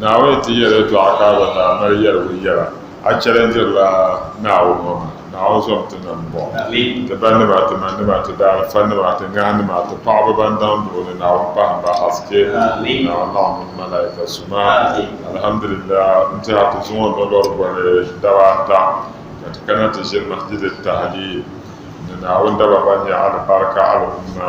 Naawuni ti yɛri yɛtɔɣa ka bɛ daa mali yɛligu yɛra, A chɛlindirila Naawuni ŋɔ maa? Naawuni zom ti nam buɣim, ti banima, ti manima, ti daalifannima, ti ŋahinima, ti paɣiba ban daŋ duɣu ni Naawuni pahimba haske, ni Naawuni laɣim mini malaika suma. Alhamdulillahi, n tɛha ti zuŋɔ nolori boli daba ata, ka ti kana ti ʒini Masjid Tahliil ni Naawuni daba ban nyɛ alibarika al'umma.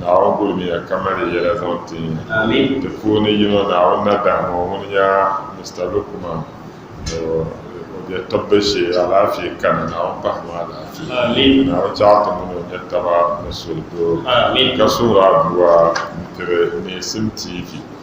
Naawuni gulimiya ka mali yɛla zaŋ ti ti puuni yino Naawuni na dahi ŋɔ ŋun nya Mr Lukman ni o bɛ tibbi shee alaafee kani Naawuni pahi ma alaafee Naawuni chaɣi ti mini o nya taba ni suli doo ka suhiri aduwa n tiri Neesim TV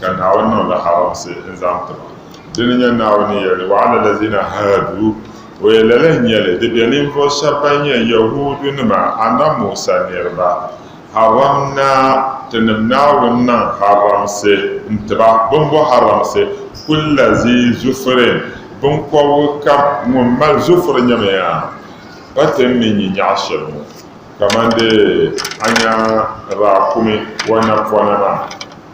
ka Naawuni niŋ li haramsi n-zaŋ ti ba. Dini n-nyɛ Naawuni yɛli, Wa ala lazina haadu, o yɛn lala n-nyɛ li, di be ninvuɣ shɛb bɛn nyɛ Yɛhuudunima, Annabi Musa niriba, haramna, Tinim Naawuni niŋ haramsi n-ti ba, bimbɔh haramsi, kulla zi zufurin, biŋkɔbigu kam ŋun mali zufur nyɛmi ya, pa ti ni nyi nyɛɣ shɛli ŋɔ, kamande a nya raakumi wa napɔna maa.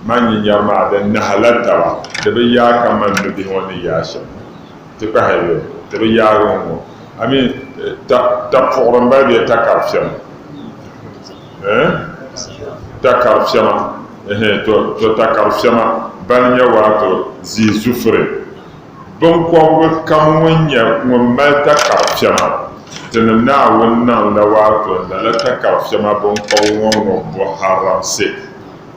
Man nyɛ nyari maa din nahala taba, di bi yaai ka man mi bihi ŋɔ ni yaai shɛm ti kpahi ya, ti bi yaagi ŋɔ ŋɔ, I mean, ta, ta puɣiri m-bali bɛ ya takari fiɛma, eh? Takari fiɛma, ehe, to, to takari fiɛma bali nyɛ waato zii zufiri. Biŋkɔbigu kam ŋun nyɛ ŋun mali takari fiɛma Tinim Naawuni naŋ la waato lala takari fiɛma biŋkɔbigu ŋɔ ŋɔ bɔharamsi.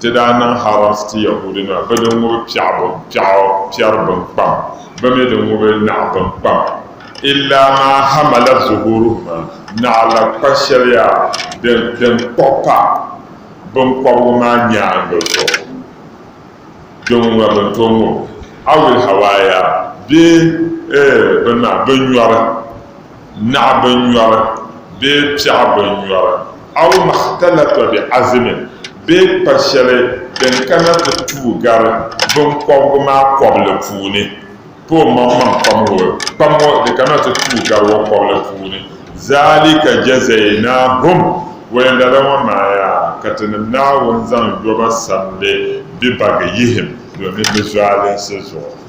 Ti daa niŋ Harans ti Yɛhudianima, bɛ din ŋubi piɛɣu piɛɣu piɛri bini kpam, bɛ mi din ŋubi naɣ bini kpam, illa maa hamalat zuhuruhuma, naɣ la kpa shɛliya din kpuɣ pa biŋkɔbigu maa nyaaŋa zuɣu, din ŋuna bɛ ni tooi ŋubi, awil hawaaya bee bini maa, binnyɔri. Naɣ binnyɔri bee piɛɣ binnyɔri, aw makhtalata bi azimin bee kpa shɛli din kana ti tuui gari binkɔbigu maa kɔbili puuni, pa o maŋmaŋ kpam ŋɔ kpam ŋɔ di kana ti tuui gari o kɔbili puuni, zaalika jazaynaahum, wayɛndala ŋɔ maaya ka Tinim Naawuni zaŋ yɔba samdi bɛ bagiyihim domin bɛ zualinsi zuɣu.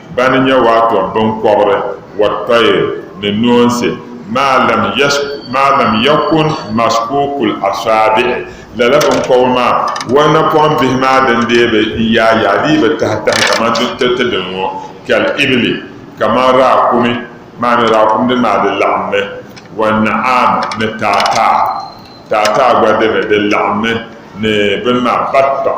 Bɛ ni nya waatɔb biŋkɔbiri, wat-tayr, ni noonsi, maa lam yas, maa lam yakun maskuukul asaabi'i, lala biŋkɔbiri maa, wal napɔŋ bihi maa din dee bi yaai yaai dii bi tahi tahi kaman ti, ti, ti dini ŋɔ, kal ibili, kaman raakumi, maa mi raakum dini maa di laɣimmi, wan na'aam, ni taataa, taataa gba dini di laɣimmi, ni bini maa, bat-tɔɣ.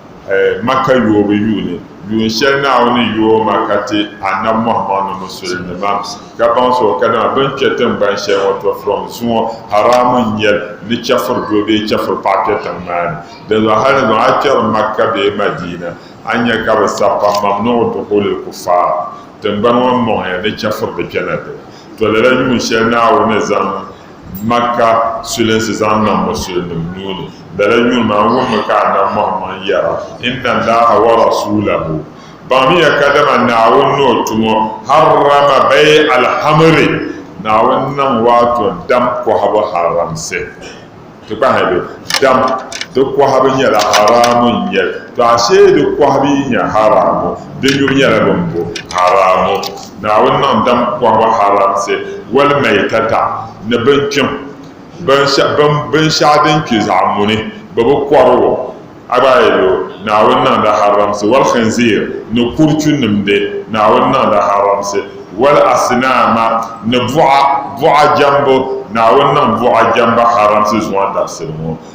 Maka yoobu yuuni, yuun shɛli Naawuni yooi ma ka ti Annabi Muhammad ni musulinima ka baŋsi o, kadama bɛ ni kpe tiŋgbani shɛli ŋɔ tɔtɔrom zuŋɔ, haraamu n-nyɛ li ni chɛfuri doo bee chɛfuri paɣa kpe tiŋ maa ni. Dinzuɣu halizɔn a kpɛri Maka bee Madiina, a ni nya ka bɛ sabi pam, Mam niŋ duhulil kufaar tiŋgbani ŋɔ m-mɔŋ ya ni chɛfuri di kpɛna dini. Tɔ lala yuun shɛli Naawuni ni zaŋ Makka sulinsi zaŋ niŋ musulinima nuu ni. Lala yuun maa wummi ka Annabi Muhammad yɛra, Inna Allaha wa rasuulahu, Baŋmiya kadama Naawuni ni o tumo, harrama bay' al-hamri, Naawuni niŋ waato dam kɔhibu haramsi. Ti kpahimi be? Dam di kɔhibu nyɛla haraamu n-nyɛ li. Tɔ ashee di kɔhibu yi nyɛ haraamu, di nyubu nyɛla bimbu? Haraamu. Naawuni niŋ dam kɔhiba haramsi walmaitata ni binkpim, binshɛɣu din kpi zaɣ muni, bɛ bi kɔri o. A gba yi lo, Naawuni niŋla haramsi walkhinziir ni kurchu nimdi, Naawuni niŋla haramsi walasinaama ni buɣa jɛmbu, Naawuni niŋ buɣa jɛmbu haramsi zuŋɔ dabisili ŋɔ.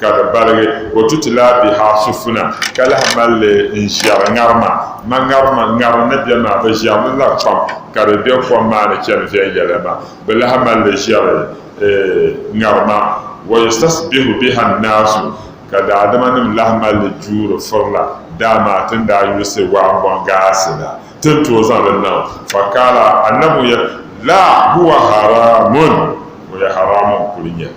ka di baligi o tutila bihi asufuna ka lahi mali li n ʒiɛri ŋarima ma ŋarima ŋarim ni bɛ maa bi ʒiɛri li la kpam ka di bɛ kom maa ni chɛni viɛnyɛla maa bi lahi mali li ʒiɛri ŋarima wa yustasbihu biha nnaasu ka daadama nim lahi mali li juuri firila daa maa tin daa yuusi waambɔŋ gaasi la tin tooi zaŋ li niŋ fakaala annabi ŋun yɛli la huwa haramun ŋun yɛ haramun kuli nyɛli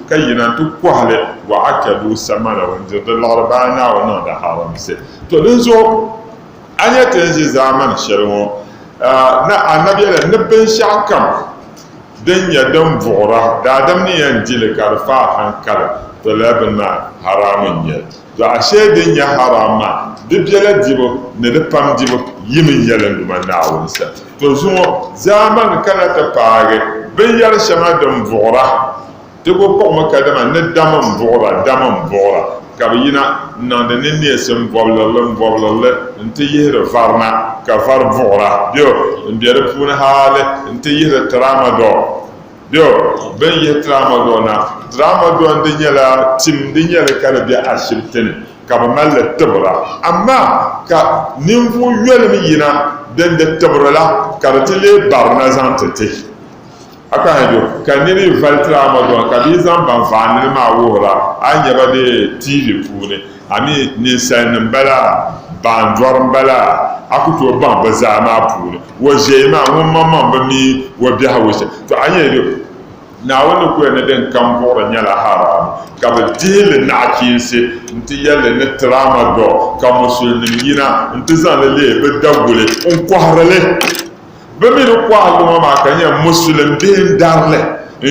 ka yina nti kɔhi li wa akadu samana ŋun diri di liɣiri ba a Naawuni niŋ di haramsi. To dinzuɣu a nya ti ni ʒi zaamani shɛli ŋɔ ni Anabia la ni binshɛɣu kam din nyɛ din vuɣira daadam ni yɛn di li ka di faai haŋkali, to lala bini maa haraamu n-nyɛ li. Dɔɣi shɛli din nyɛ haraam maa, di biɛla dibu ni di pam dibu yi mini yɛlinduma Naawuni sani. To zuŋɔ zaamani kana ti paagi binyɛr shɛŋa din vuɣira. Di bi kpuɣimi kadama ni dam m-vuɣira, dam m-vuɣira ka bɛ yina n-niŋdi ni neesim bɔbilirili m-bɔbilirili nti yihiri varina, ka vari vuɣira be o m-be di puuni haali nti yihiri tiramadɔɔ. Bɛ, bɛn yihi Tramadol na. Tramadol di nyɛla tim din nyɛli ka di be ashibiti ni ka bɛ mali li tibira. Amaa ka ninvuɣ yolibu yina din di tibiri la ka di ti leei barina zaŋ ti ti. A ka hɛnjo ka nir yi vali Tramadol ka bɛ yi zaŋ ban vaandili maa wuhir a, a ni nya ba bee TV puuni. A mi ninsalinim m-bala? Baandɔri m-bala? A ku tooi baŋ bɛ zaa maa puuni o ʒiɛi maa ŋun maŋmaŋ bi mi o biɛhigu shɛm? Tɔ! A ni yɛn yɛl Naawuni kuya ni din kam buɣiri nyɛla haraami, ka bɛ dihi li naɣichiinsi nti yɛl li ni tiraama dɔɣu, ka Musulinim yina nti zaŋ li leei bɛ Daguli n-kɔhiri li. Bɛ mi ni kɔhiri li ŋɔ maa ka nyɛ Musulim bihi n-dari li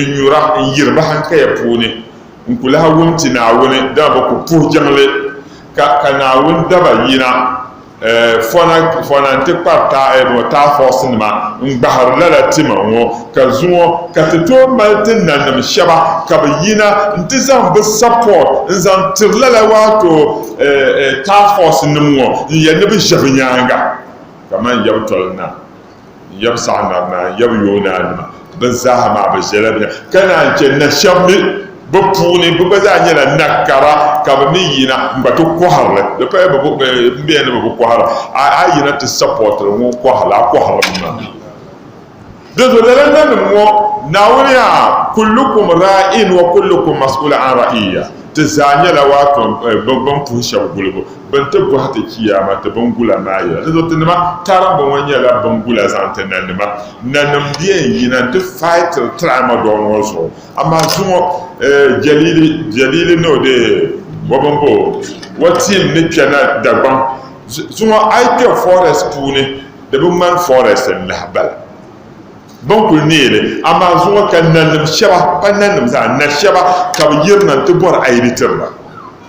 n-nyura n-yiri bɛ hankaya puuni. N ku lahi wum ti Naawuni, dama bɛ ku puhi jiŋli, ka ka Naawuni daba yina fɔna fɔna nti kpari ta a ŋɔ taafɔɔsinima n-gbahiri lala tima ŋɔ, ka zuŋɔ ka ti tooi mali ti nanim shɛba ka bɛ yina nti zaŋ bɛ support n-zaŋ tiri lala waato taafɔɔsinim ŋɔ n-yɛli ni bɛ ʒe bɛ nyaaŋa kaman yɛbu toli na. Yab saɣiŋmar naan yab yoonanima. Bɛ zaa maa bɛ ʒela bɛ ni. Ka naan chɛ na shɛb mi bɛ puuni bɛ gba zaa nyɛla nakara ka bɛ mi yina n-gba ti kɔhiri li. Di paya bɛ bi n bɛya ni bɛ bi kɔhira. A a yina ti sapɔtiri ŋun kɔhiri li, a kɔhiri mi maa. Dinzuɣu lala nanim ŋɔ, Naawuni yaa, kullukum raa'in wa kullukum mas'uulun an ra'iyyah, ti zaa nyɛla waatɔm, bɛ bɛ ni puhi shɛb gulibu. Bɛ ni ti bɔhi ti Chiyaama ti biŋgula maa yɛla, dinzuɣu ti nima tarimbu ŋɔ nyɛla biŋgula zaŋ ti nanima. Nanim di yɛn yina nti faitiri tiri Amagɔgin ŋɔ zuɣu, amaa zuŋɔ Jɛlili, Jɛlili ni o deei bɔbimbu o tiim ni kpe na Dagbaŋ zuŋɔ. A yi kpe forest puuni, di bi ŋmani forest n-lahi bala. Bɛ ni kul neei li, amaa zuŋɔ ka nanim shɛba, pa nanim zaa, nashɛba ka bɛ yirina nti bɔri a yi di tiri ba.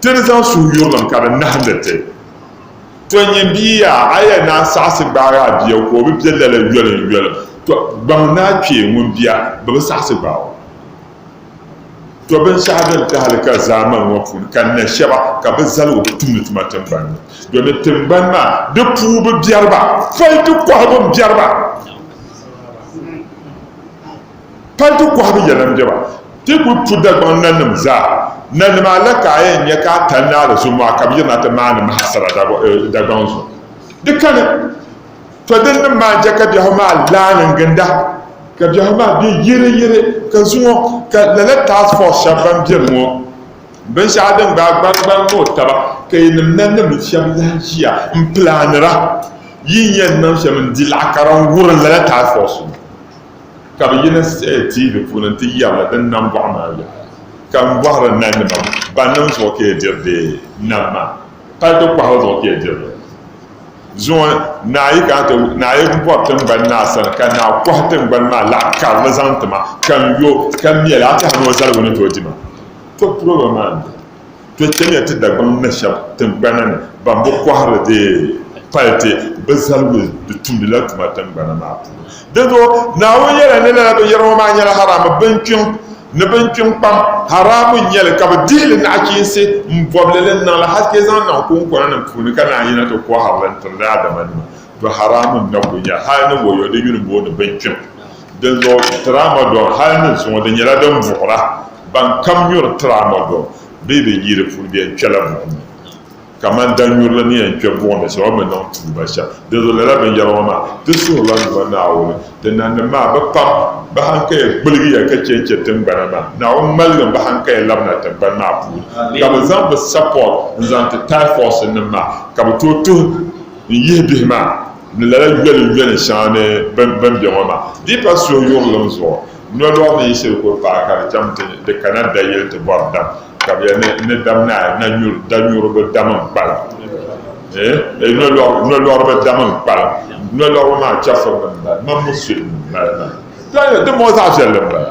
Ti ni zaŋ suhuyurilim ka di nahindi ti. To nyin bia yaa, a yɛn naan saɣisi gbaagi a bia ka o bi be lala yoliŋyoliŋ, to gbaŋ ni a kpee ŋun bia bi bi saɣisi gbaag o. To binshɛɣu din tahili ka zaamani ŋɔ puuni ka na shɛba ka bɛ zali o bi tumdi tuma tiŋgbani ni, domin tiŋgbani maa di puu bi biɛri ba, pɔi di kɔhigu m-biɛri ba. Paliti kɔhibu yɛla n-be ba. Ti kul pu Dagbaŋ nanim zaa. Nanim a la ka a yɛn nya ka a tani ni a la zo mɔɣu ka bɛ yirina ti maani mahasara Dagbaŋ zuɣu. Di kani, tɔ dinnim maa n-chɛ ka biɛhigu maa laani n-ginda, ka biɛhigu maa be yiriyiri, ka zuŋɔ ka lala task force shɛba ban beni ŋɔ binshɛɣu din gbaai gbarigbarig ni o taba ka yinim nanim shɛba lahi ʒiya m-pilaanira yi ni yɛn niŋ shɛm n-di laɣikara n-wurim lala task force ŋɔ. Ka bɛ yina siɣi tiivi puuni nti yɛrila din nam bɔɣu maa yɛla, Ka m bɔhiri nalinima, bannim zuɣu ka ya diri deei nam maa? Palito kpahiri zuɣu ka ya diri li? Zuŋɔ naa yi kana ti naa yi bɔri tiŋgbani naa sani, ka naa kɔhi tiŋgbani maa laɣ karili zaŋ ti ma, ka n yo, ka mɛl a tɛha ni o zaligu ni tooi di ma. Tɔ piligim maa n-doli. Ti chɛmiya ti Dagbaŋ na shɛba tiŋgbana ni ban bi kɔhiri di pali ti bi zaligu di tumdi la tuma tiŋgbana maa puuni. Dinzuɣu Naawuni yɛla ni lala binyɛra ŋɔ maa nyɛla haraami binkpiŋ ni binkpiŋ kpam. Haraami n-nyɛ li ka bɛ dihi li naɣichiinsi m-bɔbi li li ni niŋ li hal ti zaŋ niŋ kuŋkɔna nim puuni ka naan yina ti kɔhiri li n-tiri daadamanima. Do haramu n-na kuli nya hal ni wɔyɔ din yuli booni binkpim. Dinzuɣu Tramadol hal ni zuŋɔ di nyɛla din buɣira ban kam nyuri Tramadol bee bɛ yi di puuni bɛ yɛn kpɛla buɣim ni. Kamani danyurili ni yɛn kpɛ buɣim ni shɛm o mi niŋ tuuba shɛm. Dinzuɣu lala binyɛra ŋɔ maa ti suhirila n Duuma Naawuni. Ti nannim maa bɛ pam bɛ hankaya gbiligiya ka chɛ n-chɛ tiŋgbana maa. Naawuni maligim bɛ hankaya labina tiŋgbani maa puuni ka bɛ zaŋ bɛ sapɔri n-zaŋ ti Typhus nim maa ka bɛ tooi tuhi N yihi bihi maa ni lala yoli yoli shɛŋa ni bɛn bɛ ŋɔ maa di pa suhuyurlim zuɣu, nolɔri ni yi shiri kul paai ka di chaŋ ti ni di kana dayili ti bɔri dam, ka bɛ yɛli ni, Ni dam naai na nyuri, danyuriba dam n-kpalim, eeh, nolɔri, nolɔriba dam n-kpalim, nolɔriba maa chɛfurinim m-bala, di mini musulim m-bala maa. Dɔɣi, dimbɔŋɔ zaɣ viɛlli m-bala.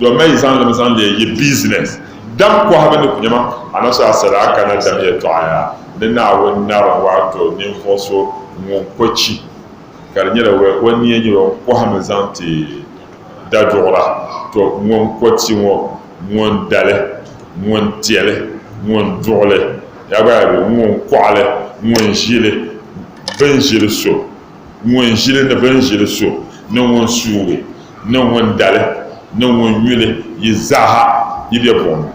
Dɔmi yi zaŋ lim zaŋ leei yi biizinɛs dam kɔhibu ni kunyama, Anaso Asadaa ka na dam yɛltɔɣaya ni Naawuni narim waato ninvuɣ so ŋun ko chi ka di nyɛla o ni yɛn nyɛ o kɔhimi zaŋ ti daduɣira, to ŋun ko chi ŋɔ, ŋun dali, ŋun tɛli, ŋun duɣili, yaa gba yaa be ŋun kɔɣili, ŋun ʒili, bin ʒili so. Ŋun ʒili ni bini ʒili so ni ŋun suugi ni ŋun dali ni ŋun yuli yi zaaha yi be buɣim ni,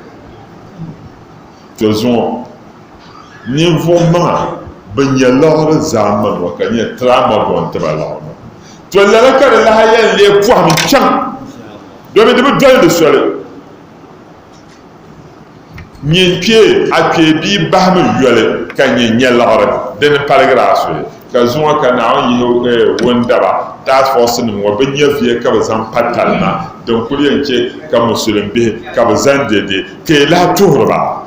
to zuŋɔ ninvuɣ maŋa bɛn nya laɣiri zaa ma nuu ka nyɛ Tiraama buɣim ti ba laɣiri maa. To lala ka di lahi yɛn lee pɔhim chaŋ domi di bi doli di soli. Nyɛ kpe a kpee bia bahimi yoli ka nyɛ nyɛliɣiri di ni paligiri a soli ka zuŋɔ ka Naawuni yihi eh, wundaba task force nim ŋɔ bi nyɛviya ka bi zaŋ pa talima din kuli yɛn che ka musulim bihi ka bi zani dede ka yi lahi tuhiri ba.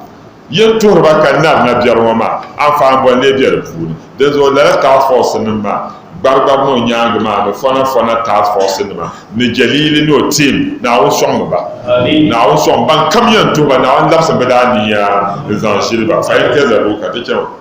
Yin tuhiri ba ka nari na biɛri ŋɔ maa, anfaani boli lee be di puuni? Dinzuɣu lala task force nim maa, Gbarigbari ni o nyaangi maa ni Fɔna Fɔna task force nima ni Jɛliili ni o team, Naawuni sɔŋmi ba. Naawuni sɔŋ bankam yɛn tuhi ba, Naawuni labisi bɛ daa niya n-zaŋ ʒili ba. Fahim Kɛzɛbu ka ti chɛ ma.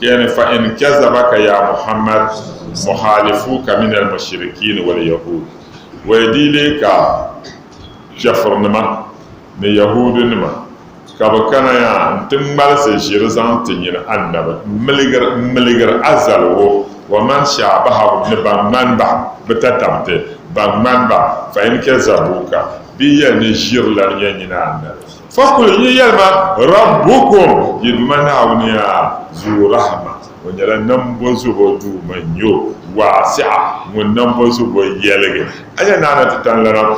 Yani fa in kazabaka ya Muhammad muhalifuka min al-mushrikin wal yahud. Wa yi di leei ka kafirnima ni Yahuudunima ka bɛ kana ya nti ŋmalisi ʒiri zaŋ ti nyini Annabi m-miligir a zaligu, wa man shaabahahum ni ban ŋmani ba, bɛ tatamti, ban ŋmani ba, fa in kazabuuka, bɛ yi yɛli ni ʒiri lana ya nyini Annabi. Fakul yi yɛli ma, Rabbukum, yi Duuma Naawuni ya, Zu Rahima, O nyɛla Nambɔzɔbo Duuma n-nyɛ O, Waasi'a, Ŋun Nambɔzɔbo yɛligi. A nya Naa na ti tani lana,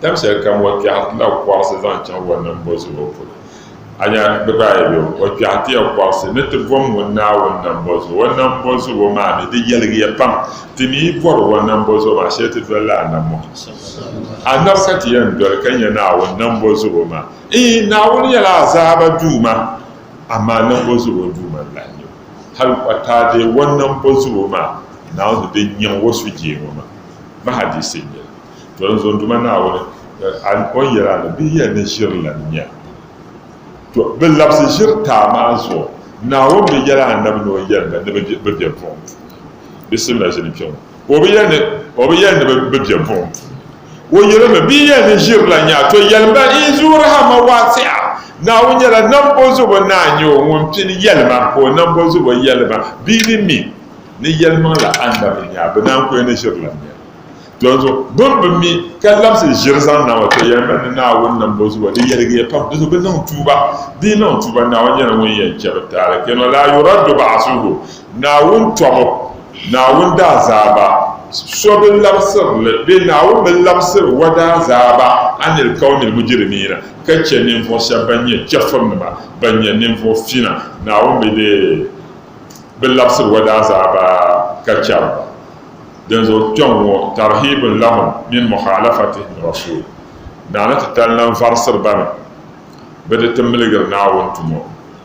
Tam shɛli kam O kpɛhi ti la kɔɣisi zaŋ chaŋ O Nambɔzɔbo polo. A nya bɛ gba yi be O kpɛhi ti ya kɔɣisi ni ti bom ŋun Naawuni Nambɔzɔbo. O Nambɔzɔbo maa mi di yɛligi ya pam. Ti mi yi bɔri O Nambɔzɔbo maa shɛli ti doli la Annabi Muhammad. Annabi ka ti yɛn doli ka nyɛ Naawuni nambo zubo maa. Ii, Naawuni nyɛla azaaba Duuma, amaa nambo zubo Duuma n-lahi nyɛ o. Hal o taadee wɔn nambo zubo maa, Naawuni di nyaŋ o sujee ŋɔ maa. Bɛ hadiisi n-nyɛ li. To n zo Duuma Naawuni, o ni yɛli a ni, Bɛ yɛn ni ʒiri lan nya. To, bɛ labisi ʒiritaa maa zuɣu, Naawuni bi yɛli Annabi ni o yɛn ba ni bɛ be buɣim puuni. Bisimila ʒini kpe ŋɔ. O bi yɛli ni, o bi yɛli ni bɛ bi bɛ buɣim. O yɛli mi, bɛ yɛli ni ʒiri la nyaa, to yɛli ba yi zuui rahama waasiɣa, Naawuni nyɛla Nambɔzubo Naa n-nyɛ o ŋun pini yɛlima ka o Nambɔzubo yɛlima bɛ ni mi ni yɛlimaŋ la anda bɛ nyaa, bɛ naan ku yɛli ni ʒiri la nyaa. Donso, bɛ ni bi mi ka labisi ʒiri zaŋ na ŋɔ, to yɛli ba ni Naawuni Nambɔzubo di yɛligiya pam, donso bɛ niŋ tuuba, bɛ yi niŋ tuuba Naawuni nyɛla ŋun yɛn chɛ bɛ taali, keno laa yuraddu ba'asuhu, Naawuni tɔbu, Naawuni daazaaba, so bi labisiri li, bee Naawuni bi labisiri O daazaaba anil kawnil mujirimiina, ka chɛ ninvuɣu shɛba ban nyɛ chɛfurinima, ban nyɛ ninvuɣu fina, Naawuni bi dee bi labisiri O daazaaba ka chɛri ba. Dinzuɣu kpɛŋŋɔ tarhiibun lahum min mukhalafatihim Rasul, Naa ni ti tali lan varisiri ba ni bɛ di ti miligiri Naawuni tumo.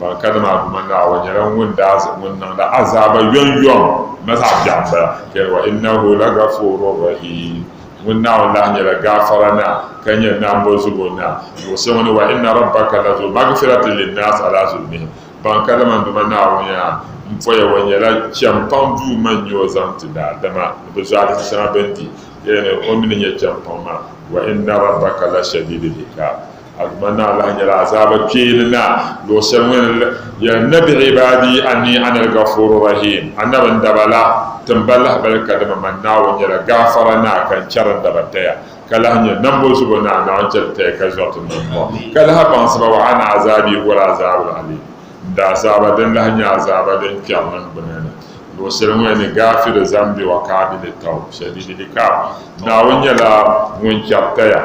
Ba ka dama bima Naawuni nyɛla ŋun daa zaŋ ŋun niŋda azaaba yɔŋyɔŋ ma zaɣ biɛɣu m-bala. Kpɛri wa innahu la gafuurun rahiim. Ŋun Naawuni lahi nyɛla gaafara Naa ka nyɛ nambɔzubo Naa. Luɣushɛli ŋɔ ni wa inna rabbaka la zu magfiratin linnaasi ala zulmihim. Ban ka dama bima Naawuni yaa n poya wa nyɛla chɛmpaŋ Duuma n-nyɛ o zaŋ ti daadama ni bɛ zɔhisi shɛŋa bɛ ni di. Yɛlli ni o mi ni nyɛ chɛmpaŋ maa, wa inna rabbaka la shadiidul ikaab. Aduma Naa lahi nyɛla azaaba kpeeni Naa, luɣushɛli ŋun Ya Nabi ibaadi anni ana al-Ghafuuru Rahiim, Anabi n daba la, tim ba lahibali ka dama man Naawuni nyɛla Gaafara Naa ka n chɛri n daba taya, ka lahi nyɛ Nambo Zubo Naa, Naawuni chɛli taya ka zɔri ti niŋmua, ka lahi baŋsi ba, wa ana azaabii huwa al-Azaabul Aliim, n daazaaba din lahi nyɛ azaaba din kpɛri niŋgbuna ni, luɣushɛli ŋun Ya ni Gaafiru Zambi wa Kaabili Tawb, Shadiidil Ikaab, Naawuni nyɛla Ŋun chɛri taya.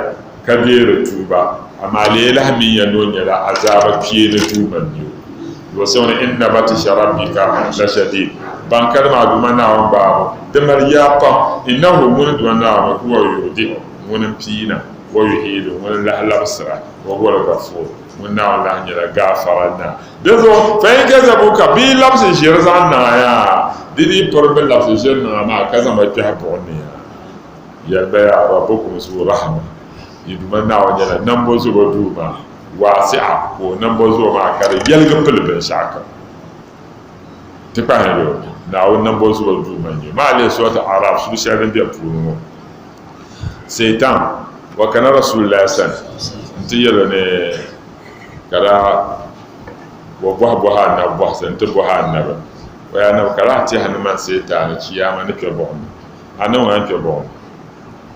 ka bɛ di tuuba, amaa leelahi mi ya ni o nyɛla azaaba kpee ni Duuma mi o. Luɣ so ni, Inna batisha Rabbika la shadiid, ban kari maa duma Naawuni baabu di mali yaa pam, Innahu ŋuni duma Naawuni huwa yubdi'u ŋuni m-piina, wa yu'iidu ŋuni lahi labisira, wa huwal gafuur ŋuni Naawuni lahi nyɛla gaafara Naa. Dinzuɣu fa in kazabuuka bɛ yi labisi ʒiri zaŋ niŋ a ya, di dii pirimi labisi ʒiri niŋ a maa ka zaŋ ba kpɛhi buɣim ni ya. Yɛli ba yaa ba bukum zuɣu Rahama, yi Duuma Naawuni nyɛla nambɔzɔbo Duuma, waasi'a, ka o nambɔzɔbo maa ka di yɛligi pili binshɛɣukam. Ti kpahimi be o, Naawuni nambɔzɔbo Duuma n-nyɛ o. Maa lihi Suratu A'raaf suri shɛli din beni puuni ŋɔ. Satan wa kana Rasuulillaahi sani nti yɛl o ni, Ka daa wa bɔhi bɔhi Annabi bɔhisi, nti bɔhi Annabi, O yaa Annabi, ka lahi tɛhi ni man Satan ni Chiyaama ni kpe buɣim ni. A niŋ ŋan kpe bɔŋɔ?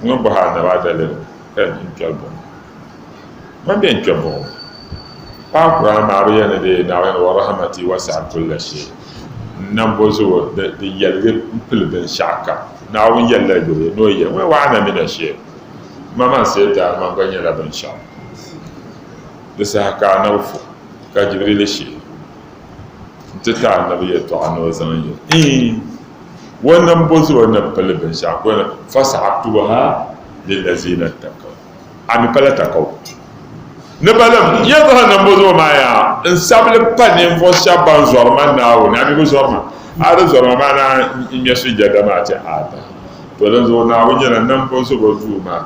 N ni bɔhi a naba daliri ka di di n-kpɛri bɔŋɔ. Mani bɛn kpe bɔŋɔ? Paɣa Kur'aan maa bi yɛli ni di Naawuni wa rahmati wasi'at kulla shay, N nambo zubu di yɛligi m-pili binshɛɣu kam. Naawuni yɛlila yuri ni o yɛli ŋɔ, Wa ana mina shay, Ma man Seetan man gba nyɛla binshɛɣu. Di saha ka Annabi fu, ka Jibirili sheei n-ti ti Annabi yɛltɔɣa ni o zaŋ yɛli, Iin! Wannan bo zuɔ ni pili binshɛɣu ko na fasa'aktubuha lillazina takaw a mi pala takaw ni balim ya jahannam bo zuɔ maa yaa n sabili pa ninvuɣu shɛba ban zɔri ma Naawuni a mi bi zɔri ma a di zɔri ma maa na n ŋmɛ sujada maa ti Aadam to dinzuɣu Naawuni nyɛla Nambozubo Duu maa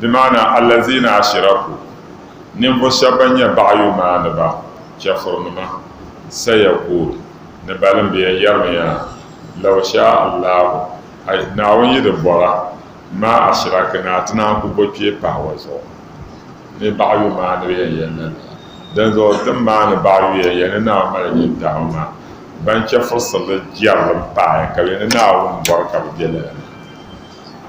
bi maana allazina ashiraku, ninvuɣu shɛba ban nyɛ baɣayu maaniba, chɛfurinima, sayakul, ni balimbiya yɛrimiya, law shaa Allahu, a Naawuni yi di bɔra, ma ashirakina, ti naan ku bo kpee pahi wa zuɣu. Ni baɣayu maanibiya yɛn na la, dinzuɣu ti maani baɣayuya yɛn ni Naawuni mali nyin dama maa, ban chɛfurisirili jɛrilim pahi ka bɛ ni Naawuni bɔri ka bɛ be lala ni.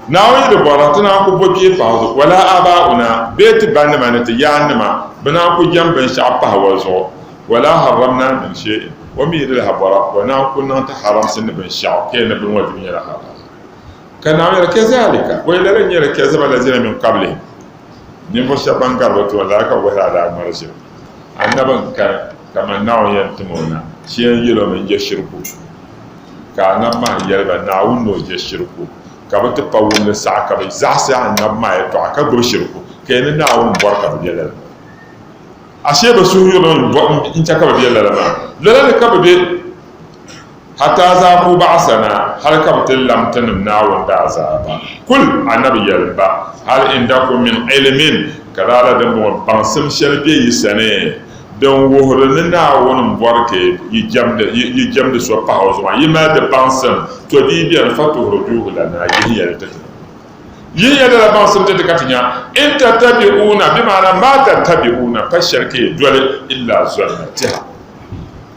Naawuni di bɔra ti naan ku bo kpee pahi zuɣu, wala aabaa'una bee ti banima ni ti yaannima bi naan ku jɛm binshɛɣu pahi o zuɣu, wala harramna min shɛ'in, o mi di lahi bɔra ka o naan ku niŋ ti haramsi ni binshɛɣu ka yi ni biŋ o di mi nyɛla haraam. Ka Naawuni yɛli, Kazalika, bɔyi lala n-nyɛla kazaba allazina min qablihim, ninvuɣu shɛba ban gari bɛ tooni la ka bɛ bohiri a daa ŋmalishiri Annabi n-kani. Kaman Naawuni yɛn tim o na, ti yɛn yɛl o mini jɛshiriku. Ka Annabi maa yɛli ba, Naawuni ni o jɛshiriku ka bɛ ti pa wumli saha ka bɛ zaɣisi Annabi maa yɛtɔɣa ka gbibi shiriku, ka ya ni Naawuni m-bɔri ka bɛ be lala maa. Ashee bɛ suhuyurili n-chɛ ka bɛ be lala maa. Lala ni ka bɛ be. Hataa zaa ku baɣisa na, hal ka bɛ ti lam Tinim Naawuni daazaa ba. Kul, Annabi, yɛli ba, Hal indakum min ilimin, ka lala dimbɔŋɔ baŋsim shɛli be yi sani din wuhiri ni Naawuni m-bɔri ka yi jɛmdi so pahi o zuɣu maa? Yi mali di baŋsim? To di yi beni, fatuhrijuuhu lanaa, yihiya li ti ti. Yihiya lala baŋsim ti ti ka ti nya. In tattabi'uuna, bimaana maa tattabi'uuna, pa shɛli ka yi doli, illa zɔnna, tɛha.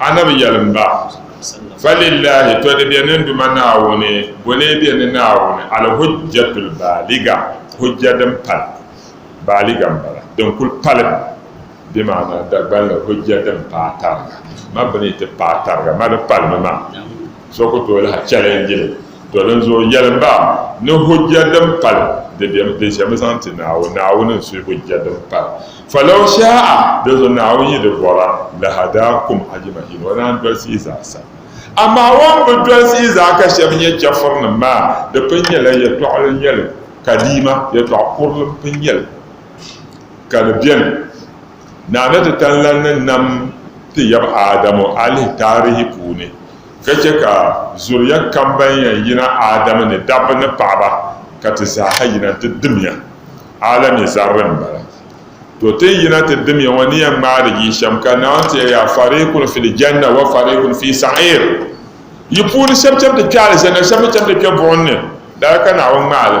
Anabi yɛlim ba, Falillahi tɔdi bɛ ni Duuma Naawuni, bo lee bɛ ni Naawuni, Al-Hujjatul Baaliga, hujja din pali, baaliga m-bala, din kul pali, bimaana Dagbanli hujja din paai tariga, ma bɛ ni ti paai tariga, ma di palimi maa. So ku tooi lahi chɛli n yili to dinzuɣu yɛlim ba ni hujja din pali di bɛm di ʒɛmi zaŋ ti Naawuni Naawuni n suhi hujja din pali falaw sha'a dinzuɣu Naawuni yi di bɔra lahadaakum ajimahin o naan dolisi yi zaasa amaa o ni bi dolisi yi zaa ka shɛba nyɛ chɛfurinim maa di pun nyɛla yɛtɔɣili nyɛli kadiima yɛtɔɣ kurili n pun nyɛli ka di bɛni Naana Titanlan ni nam ti yab Aadamu alihi taarihi puuni, ka chɛ ka zuriya kam ban yɛn yina Aadamu ni, dabba ni paɣiba, ka ti zaaha yina ti dimiya. Alami zarili m-bala. To ti ni yina ti dimiya ŋɔ ni yɛn ŋmaari yi shɛm, ka Naawuni ti ya yaa, Fariikun fil janna wa fariikun fi sa'iir. Yi puuni shɛb cham ti kpe alijanna, shɛb mi cham ti kpe buɣim ni. Lala ka Naawuni ŋmaali.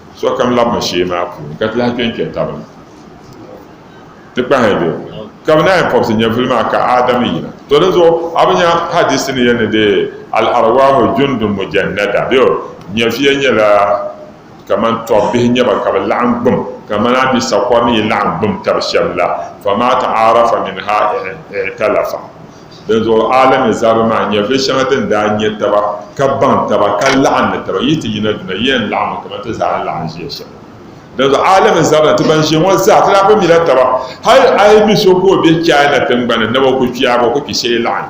Sokam labimi shee maa puuni ka ti lahi kpe n-kpe taba ni ti kpahi di. Ka bɛ naai pɔbisi nyɛvili maa ka Aadam yina. To di zuɣu a bi nya hadiisi ni yɛli ni dee, Al-arwaahu jundun mujannada, bee o, nyɛviya nyɛla kaman tɔb bihi nyɛ ba ka bɛ laɣim gbum kaman a ni sakɔri ni yi laɣim gbum tab shɛm la, famaa ta'aarafa minhaa i'talafa. Dinzuɣu Alami zaba maa nya bɛ shɛŋa ti ni daa nya taba, ka baŋ taba, ka laɣim ni taba, Yi ti yina duna, yi yɛn laɣimmi kaman ti zaa ni laɣim ʒiya shɛm la. Dinzuɣu Alami zaba ni ti ban ʒiya ŋɔ zaa, ti daa bi mila taba. Hal a yi mi so ka o be China tiŋgbani ni o ku kpɛyaagi, o ku kpi shee laɣim.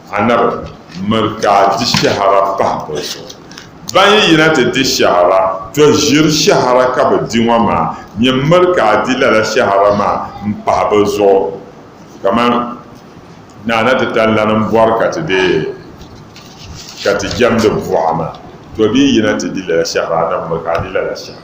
Anabi miri ka a di shɛhira pahi bɛ zuɣu. Ban yi yina ti di shɛhira, tɔ ʒiri shɛhira ka bɛ di ŋɔ maa, nyɛ m-miri ka a di lala shɛhira maa m-pahi bɛ zuɣu, kaman naa na ti tan lana m-bɔri ka ti be ka ti jɛmdi buɣa maa. Tɔ bɛ yi yina ti di lala shɛhira, anabi miri ka a di lala shɛhira.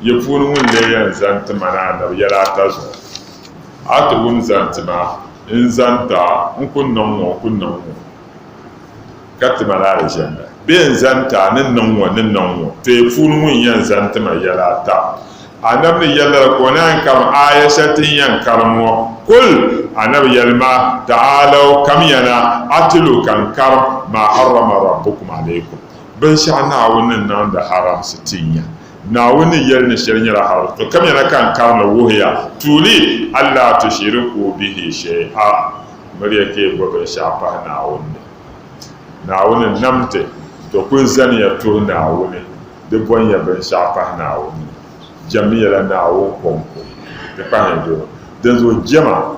Yi puuni ŋun lee yɛn zaŋ ti ma ni anabi yɛla ata zuɣu, a ti wum zaŋ ti ma, n zaŋ ti a, n ku niŋ ŋɔ, n ku niŋ ŋɔ, ka ti ma ni alijanna, bee n zaŋ ti a, ni niŋ ŋɔ, ni niŋ ŋɔ, to yi puuni ŋun yɛn zaŋ ti ma yɛla ata, anabi ni yɛli lala ka o naan karim aaya shɛli ti ni yɛn karim ŋɔ, Kul! Anabi yɛli ma, Ta'alau, kamiya na, atilu ka n karim, maa harrama Rabbukum alaykum, binshɛɣu Naawuni ni niŋdi haramsi ti nya. Naawuni ni yɛli ni shɛli nyɛla hal, to kamiya na ka n karim li wuhi ya, tuuli Allaa tushiriku bihi shay'a, miriya ka yi bɔ binshɛɣu pahi Naawuni ni. Naawuni nam ti, to kul zaniya tuhi Naawuni, di bɔn ya binshɛɣu pahi Naawuni ni, jɛmmiya la Naawuni kɔŋko, di kpahiya doro. Dinzuɣu jɛma,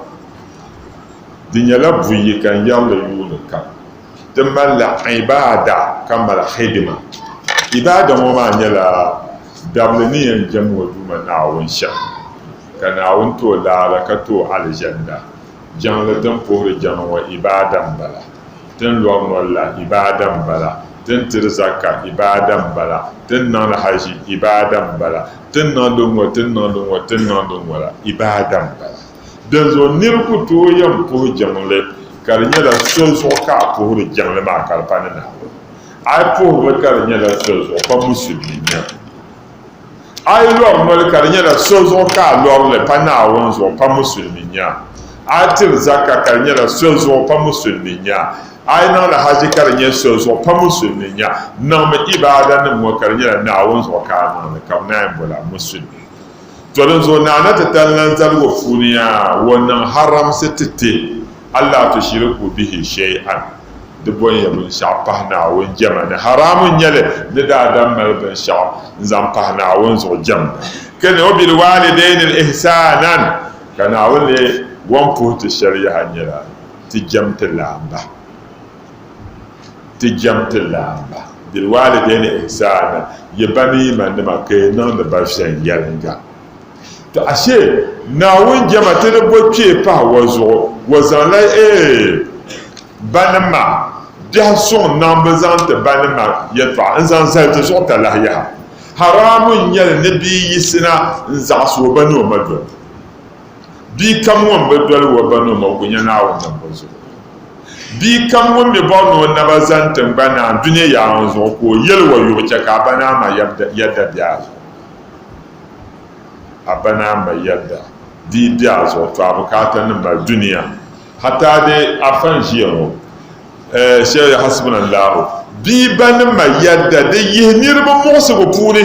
di nyɛla buyi ka n yɛri li yuuni kam. di malila ibaada ka mali hidima. Ibaada ŋɔ maa nyɛla dabili ni yɛn jɛm ŋɔ Duuma Naawuni shɛm, ka Naawuni ti o laala ka ti o Alizanda. Jɛŋli din puhiri jɛma ŋɔ ibaada m-bala, din lɔri noli la ibaada m-bala, din tiri zaka ibaada m-bala, din niŋdi haʒi ibaada m-bala, tin niŋdi ŋɔ, tin niŋdi ŋɔ, tin niŋdi ŋɔ la ibaada m-bala. Dinzuɣu nir ku tooi yɛn puhi jiŋli, ka di nyɛla so zuɣu ka a puhiri jiŋli maa ka di pa ni Naawuni. A yi puhirili ka di nyɛla so zuɣu, pa Musulimi n-nyɛ li. A yi lɔri noli ka di nyɛla so zuɣu ka a lɔri li, pa Naawuni zuɣu, pa Musulimi n-nyɛ a. A yi tiri zaka ka di nyɛla so zuɣu, pa Musulimi n-nyɛ a. A yi niŋdi haji ka di nyɛ so zuɣu, pa Musulimi n-nyɛ a. Niŋmi ibaadanim ŋɔ ka di nyɛla Naawuni zuɣu ka a niŋ li, ka bɛ naan yi bol a Musulimi. To dinzuɣu Naa na ti tali lan zaligu puuni yaa o niŋ haramsi ti ti Alaah tu shiri ku bihi shɛi'an di bɔnya binshɛɣu pahi Naawuni jɛma ni haraamu n-nyɛ li ni daa dam mali binshɛɣu n-zaŋ pahi Naawuni zuɣu jɛmda ka ni wabil waalidaini ihsaanan ka Naawuni lee wan puhi ti shɛli yaha nyɛla ti jɛm ti laamba. ti jɛm ti laamba bilwaalidayni ihsaana yi ba mini yi ma nima ka yi niŋdi ba viɛnyɛliŋga to ashe Naawuni jɛma ti ni bo kpee pahi wa zuɣu wa zaŋla ee ba nim maa biɛhi suŋ niŋbu zaŋ ti ba nim maa yɛltɔɣa n zaŋ zali ti zuɣu talahi yaha haraamu n nyɛli ni bia yisina n zaɣisi o ba ni o ma doli Bia kam ŋun bi doli o ba ni o ma, o ku nya Naawuni niŋbu zuɣu. Bia kam ŋun mi bɔri ni o naba zani tiŋgbani ni a dunia yaa ŋɔ zuɣu, ka o yɛli o yuɣu chɛ ka a ba ni a ma yɛda be a zuɣu, a ba ni a ma yɛda dii be a zuɣu, tɔ a bukaata ni mali dunia. Hataa di afa n-ʒiya ŋɔ, Sheikh Hasbunallahu, bia ba ni ma yɛda di yihi niriba muɣisigu puuni.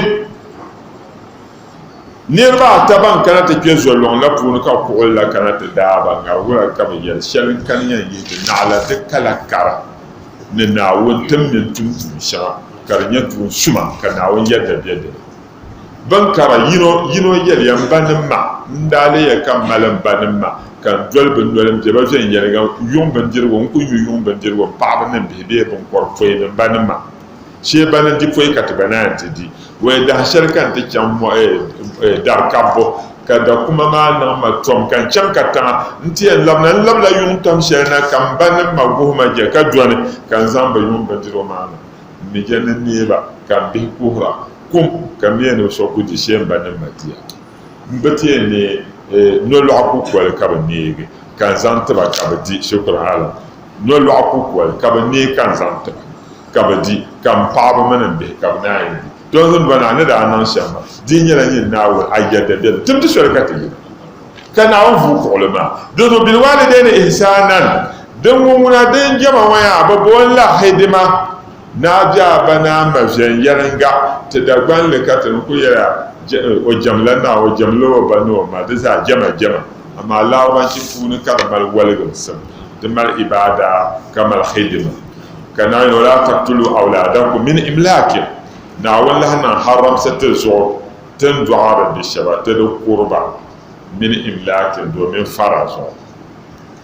Niriba ata ban kana ti kpe zolɔŋ la puuni ka kuɣili la kana ti daaba ŋarigula ka bɛ yɛli, Shɛli n-kani yɛn yihi ti naɣila di kala kara ni Naawuni ti mini tum tuun shɛŋa ka di nyɛ tuun suma ka Naawuni yɛda be di ni. Bɛn kara yino yino yɛliya, M banim ma, n daa leeya ka m mali m banim ma ka n doli bɛ noli m-be ba viɛnyɛliŋga yuŋ bindirigu, n ku nyu yuŋ bindirigu m paɣaba ni m bihi bee biŋkɔripɔin ni m banim ma. Shee ba ni di pɔi ka ti gba naan ti di. Wee daha shɛli ka n ti chaŋ mɔɣu dari kabbu, ka dakuma maa niŋ ma tɔm ka n chaŋ kataŋa. N ti yɛn labina, n labila yuŋ tɔm shɛli na ka m ba ni m ma guhi ma je ka dɔni, ka n zaŋ bɛ yuŋ bindirigu maa niŋ m mi je ni n neei ba, ka m bihi kuhira kum, ka m mi ni bɛ so ku di shee m ba ni m ma di ya. N bi ti yɛn neei nolɔɣu kukoli ka bi neegi ka n zaŋ tiba ka bi di, shikuru alam, nolɔɣu kukoli ka bi neei ka n zaŋ tiba ka bi di, ka n paɣaba mini n bihi ka bi naan yi di. Tɔha zim bɔna a ni daa niŋ shɛm maa, di nyɛla nyin Naawuni a yɛda biɛlim, tim ti soli ka ti yina. Ka Naawuni vuui kuɣili maa, Dinzuɣu bilwaalidayni ihsaanan, din ŋun ŋuna din jɛma ŋɔ yaa bi booni la hidima, Naa biɛɣu ba naa ma viɛnyɛliŋga ti Dagbaŋ li ka ti ni kul yɛli a, O jɛm la naa, o jɛm la o ba ni o ma, di zaa jɛma jɛma, amaa Larɔbanchi puuni ka di mali waligimsim, di mali ibaada ka mali hidima. Ka Naa yɛli o, Laa taktulu awlaadakum min imlaakin, Naawuni lahi niŋ haramsi ti zuɣu ti ni dɔɣiri bi shɛba ti di kuri ba min imlaakin domin fara zuɣu.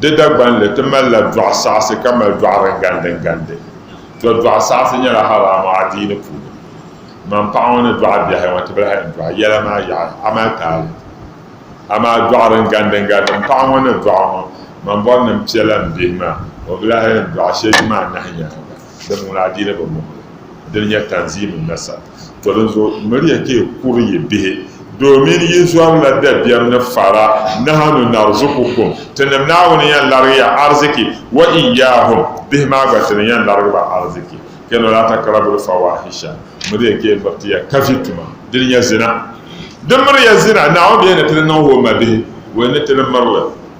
Di Dagbanli, ti malila dɔɣu saɣisi ka mali dɔɣu din gandi n gandi. To dɔɣu saɣisi nyɛla haraama adiini puuni. Ŋman paɣa ŋɔ ni dɔɣi biɛhi ŋɔ tibili hali n dɔɣi yɛla maa yaɣi a mali taali. Amaa dɔɣu din gandi n gandi m paɣa ŋɔ ni dɔɣi ŋɔ, ŋmanbɔrinim piɛla m bihi maa, o bi lahi yɛn dɔɣi shee ti ma anahi nyaaŋa. Dama ŋun adiini bi mɔh li, dini nyɛ tanziimun nasab. To dinzuɣu m miri ya ka yi kuri yi bihi domin yi zɔrila dabiɛm ni fara, Nahanu narzukukum, Tinim Naawuni n-yɛn larigi ya ariziki, wa iyyahum, bihi maa gba Ti ni yɛn larigi ba ariziki. Kpɛna wala takrabul fawahisha, m miri ya ka yi miri ti ya kavi tuma, dini nyɛ zina. Di miri ya zina, Naawuni bɛ yɛn ni ti ni niŋ o mabihi, o yɛn ni ti ni miri li.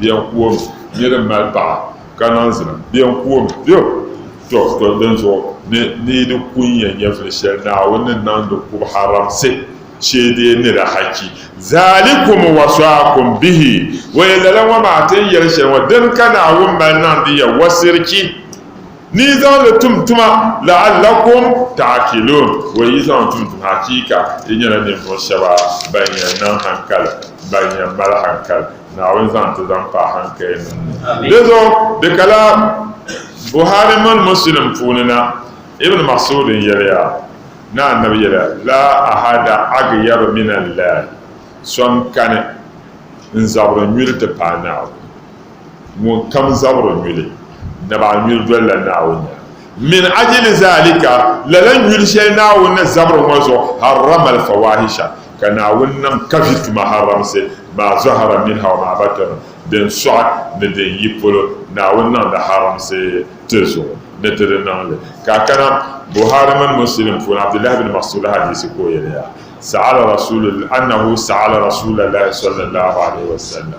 Biɛn kuom nyɛ din mali paɣa ka niŋ zina. Biɛn kuom biɛm to to dinzuɣu ni ni yi di ku nya nyɛvili shɛli Naawuni ni niŋdi kub haramsi shee deei nira haki. Zaalikum wasɔakum bihi, o yɛn lala ŋɔ maa ti n yɛli shɛli ŋɔ, dini ka Naawuni mali niŋdi ya wasirchi. Ni yi zaŋ li tum tuma, la'allakum ta'akiluun, o yi zaŋ tum tuma hakiika yi nyɛla ninvuɣ shɛba ban yɛn niŋ hankali, ban yɛn mali hankali. Naawuni zaŋ ti zaŋ paai hankayɛnim ni. Di zuɣu di ka la Buhari mini Muslim puuni na, Ibn Mas'ud n-yɛliya ni Annabi yɛliya, Laa ahada agyabu min Allahi, so n-kani n-zabiri nyuli ti paai Naawuni. Ŋun kam zabiri nyuli, nab a nyuli dolila Naawuni nyaŋ. Min ajili zalika, lala nyuli shɛli Naawuni ni zabiri ŋɔ zuɣu, harrama al-fawahisha, ka Naawuni niŋ kavi tuma haramsi, maa zɔhara minha wa maa batɔna, din sɔɣi ni din yi polo, Naawuni niŋ di haramsi ti zuɣu ni ti di niŋ li. Ka a kana Buhari mini Muslim puuni Abdullahi bin Mas'ud hadiisi ka o yɛliya, Sa'ala Rasulullah, annahu sa'ala Rasulalahi sallallahu alaihi wa sallam,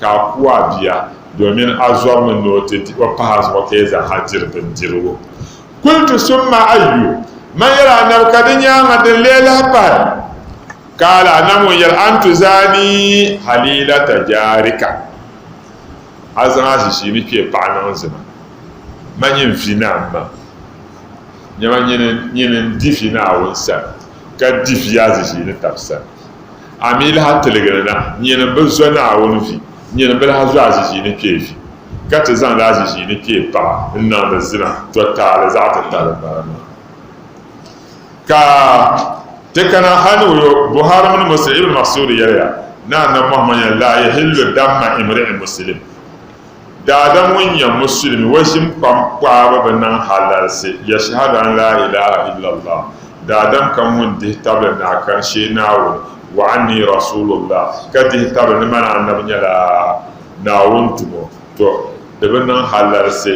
ka a ku a bia domin a zɔrimi ni o ti di o pahi a zuɣu ka yi zaaha diri bindirigu. Kultu summa ayyu, man yɛl a Nabi ka di nyaaŋa din lee lahi pahi? Kaala a Nabi ŋun yɛl an tuzaani halilata jaarika, a zaŋ a ʒiʒii ni kpee paɣa niŋ zima, ma nyin vi Naamma, nyama nyin n-di vi Naawuni sani, ka di vi a ʒiʒii ni tab sani. A mi lahi tiligi ni na, nyini m bi zo Naawuni vi, nyini m bi lahi zo aziziini kpee vi, ka ti zaŋdi aziziini kpee paɣa n-niŋdi zina tɔtaali zaɣ'titali m-bala maa. Ka ti kana hal ni o yo, Buhari mini Muslim, Ibn Mas'ud yɛliya, Ni Annabi Muhammad yɛli, Laa yahillu damma imri'in Muslim, Daadam ŋun nyɛ musulimi, o ʒim kpam kpaaba bi niŋ halalsi yashahadu an laa ilaha illallah, daadam kam ŋun dihi tabili ni a karshe Naawuni, wa anni rasuulullah, ka dihi tabili ni man Annabi nyɛla Naawuni tumo, to di bi niŋ halalsi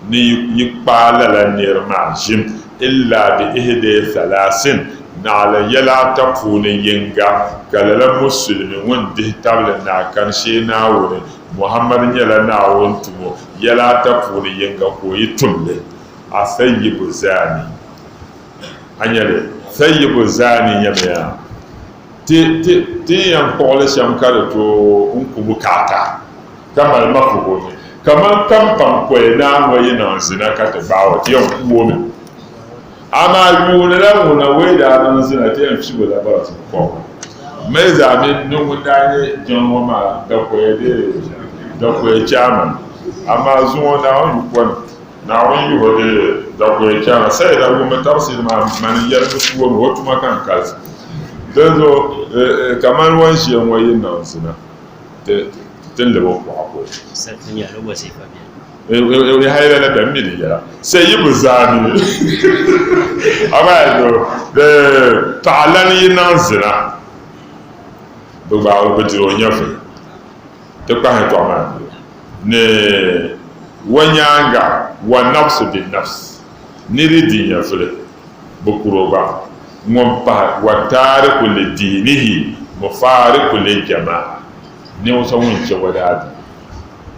ni yi kpaai lala nir maa ʒim illa bi ihdee thalaasin, naɣila yɛla ata puuni yiŋga, ka lala musulimi ŋun dihi tabili ni a karshe Naawuni, Muhammad nyɛla Naawuni tum o yɛla ata puuni yiŋga ka o yi tum li, Athayyibu Zani. A nya li? Thayyibu Zani nyamiya ti, ti, ti ni yɛn kpuɣi li shɛm ka di tooi n ku bukaata, ka mali mafuhumi kaman kampaŋ pɔi naa ŋɔ yi niŋ zina ka ti gbaai o ti yɛn ku o mi. Amaa yuuni la ŋun na wei daa niŋ zina ti yɛn figu la bara ti kɔb mali zaa mini ni ŋun daa nyɛ jiŋli ŋɔ maa dakoya bee dakoya chairman. Amaa zuŋɔ Naawuni yu pɔni. Naawuni yiho di dakoya chairman sayi la ŋun mi tabisiri maa mani yɛligu ti wom o tuma ka n kalisi. Dinzuɣu kamani wan ʒiya ŋɔ yi niŋ zina ti lib o kuɣa ko. Ewurehi ayi la bɛ mi di yɛla sɛ yi bi zaa mi abayi do bɛ paɣa lan yi niŋ zina bi gba o bi diri o nyɛvuli ti kpahi tɔɣa maa ni ni wa nyaanga wa nafsi bi nafsi ni di di nyɛvuli bi kuro gba ŋun pahi wa taariku li diinihi mufaariku li jamaa ninvuɣu so ŋun chɛ wa daadiini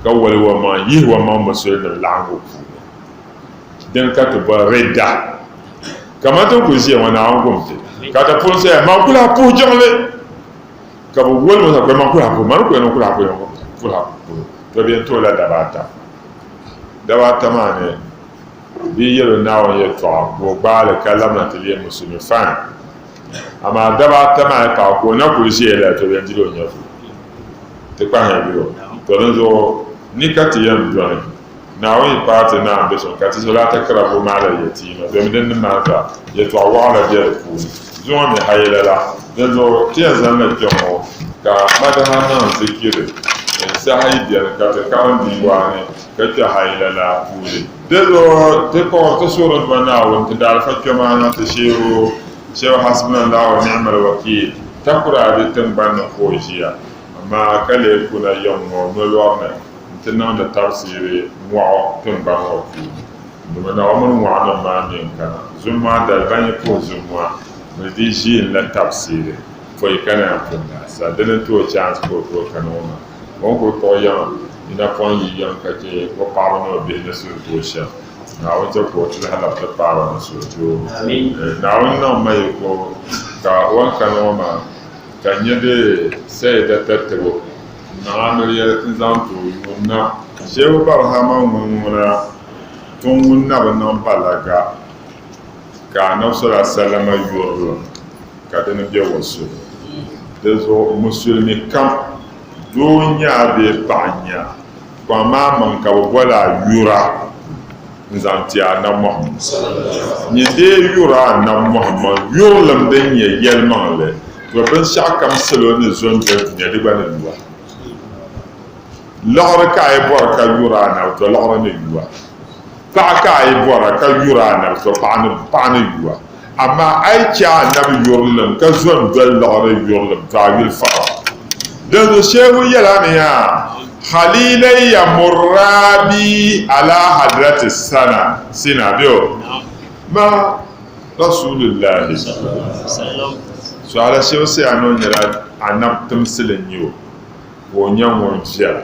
ka wali wa maa yihi wa maŋ musulinim laɣingu puuni din ka ti boli ridda kamani tin kuli ʒiya ŋɔ Naawuni gum ti ka ti pun saya maa kuli a puhi jiŋli ka bi wali ŋɔ sakpɛli maa kuli a puhi maa ni kuli niŋ kuli a puhi kuli a puhi to bɛ yɛn tuhi la daba ata daba ata maa ni bɛ yɛlo Naawuni yɛtɔɣa ka o gbaali ka lamina ti leei musulmi fine Amaa daba ata maa ka ka o na kuli ʒiya la to yɛn diri o nyɛvuli ti kpahi yuli o. To dinzuɣu ni ka ti yɛn dɔni Naawuni paai ti naa be so ka ti soli atakira bo maa la yɛ ti yino domi din ni maa zaa yɛtɔɣ wɔɣila be di puuni. Zuŋɔ mi ha yɛla la, dinzuɣu ti yɛn zaŋ li kpɛŋɔ ka Madaha niŋ zikiri saha yi beni ka ti karim bia waa ni. ka chɛ hal lala puuni. Dindɔŋɔ, ti kɔŋ ti Suurodba Naawuni, ti daalifa kpɛmaana ti sheebu shɛba Hasbunallahu wa ni'mal wakiil, takura di tiŋgbani ni ka o ʒiya, amaa ka lee ku na yiɣi ŋɔ nolɔri ni nti niŋdi tabisiri mɔɣu tiŋgbani ŋɔ puuni. Dama Naawumini mɔɣunim maa mi n-kana zuŋmaa dali ban yi puhi zuŋmaa bɛ di ʒiinila tabisiri pɔi ka naan pun daa sa dini n-tooi chaansi ka o tooi kani ŋɔ maa. O ni kul kpuɣi yiŋa ni napɔŋ yi yiŋ ka chɛ o paɣiba ni o bihi ni suhudoo shɛm, Naawuni chɛ ka o tuhi alab ti paai ba ni suhudoo. Naawuni niŋ ma yiko ka o ni kani ŋɔ maa ka n nya di Sɛyida tatibu n-niŋ a noli yɛli ti zaŋ ti o yuun na. Shehu Barhama ŋun ŋuna tiŋ ŋun na bi niŋ balaga ka Annabi sallallahu alaihi wasallam yurilim. ka di ni bɛ o so. Di zuɣu musulimi kam, doo nya a bee paɣa nya a, kɔŋ ma a maŋ ka bɛ boli a yura n-zaŋ ti Annabi Muhammad sallallahu. Nyin dee yura Annabi Muhammad yurilim din nyɛ yɛlimaŋli, to binshɛɣukam salo ni zo n-doli dunia di gba ni yu a. Liɣiri ka a yi bɔri ka yura Annabi, to liɣiri ni yu a. Paɣa ka a yi bɔra ka yuri a nabi so, paɣa ni yu a. Amaa a yi chɛ a nabi yurilim ka zo n-doli liɣiri yurilim, to a yuli fara. Dinzuɣu Shehu yɛla ni ya, Halilay ya murra bi ala hadrati sana, sina, bɛ o ma Rasulillahi, suhala Shehu Sayani o nyɛla a nabi timsili n-nyɛ o, ka o nyɛ ŋun viɛla.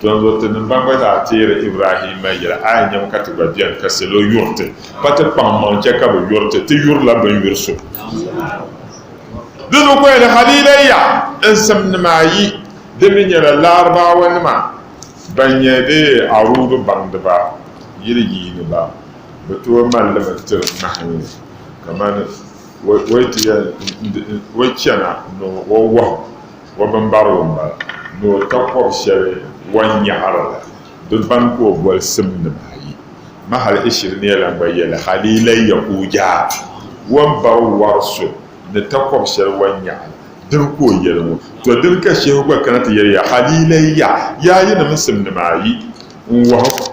Donso tinim ban gba zaa teeri Ibrahimma yɛli, A yi nyam ka ti gba beni ka salo yuri ti, pa ti kpaŋmaŋ chɛ ka bɛ yuri ti, ti yurila bɛ ni yuri so. Dinzuɣu ka yɛli, Haliila ya n simnim ayi, di mi nyɛla Laarubawanima ban nyɛ bɛ Aruudu baŋdiba, yili yiiniba, bɛ tooi mali li mi tiri ŋmahinli kamani o yi chana ni o wahu. O bimbarigu m-bala ni o takɔbi shɛli wan nyaɣiri la bɛ ban ka o boli simnim ayi. Mahal Ishiriniya lan gba yɛli, Hal yi lahi ya ka o yaa wan bari wɔri so ni takɔbi shɛli wan nyaɣi la, dini ka o yɛli ŋɔ? Tɔ dini ka Shehu gba kana ti yɛli ya, Hal yi lahi ya yaayinim simnim ayi n-wɔhu?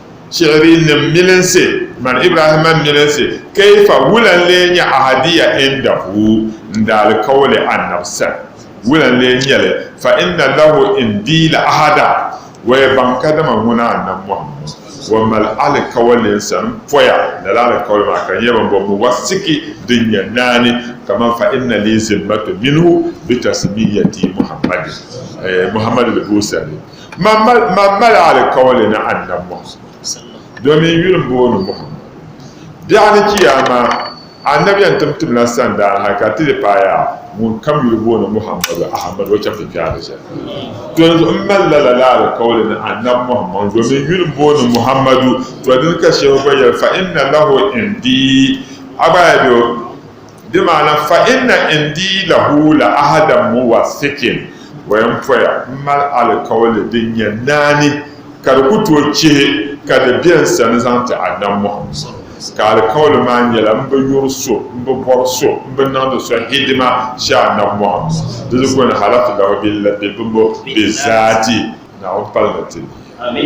Shihiri nim milinsi mani Ibrahimma milinsi, kaifa wula n lee nyɛ ahadiya indahu n daalikauli Annabi sani? Wula n lee nyɛli? Fa inna lahu indi la ahada, waya baŋ kadama ŋuna Annabi Muhammad wa mali alikauli n sani m poya, lala alikauli maa ka di nyɛ bɛn bɔbi ni wasiki din nyɛ naani, kaman fa inna li zimmatu minhu bi tasmiyati Muhammadin, Muhammad di boosani. Man mali alikawali ni Annabi Muhammad domin yuli m-booni Muhammad. Biɛɣu ni Kiyaama, Annabi yɛn tim timla sandaa ha ka ti di paaya ŋunkam yuli booni Muhammadu Ahmadu o chaŋ ti kpe alijanna. Donzuɣu m mali lala la alikawali ni Annabi Muhammad domin yuli m-booni Muhammadu. To dini ka Shehu gba yɛli, Fa inna lahu indi, a gba ya be o. Di maana fa inna indii lahu la ahadan muwathikin, o yɛn poya m mali alikauli din nyɛ naani ka di ku tooi chihi ka di be n sani zaŋ ti Annabi Muhammad, ka alikauli maa nyɛla m bi yuri so, m bi bɔri so, m bi niŋdi so hidima shɛ Annabi Muhammad, di di goni halatu lahu billati bimbo bizaati Naawuni palimi ti ni.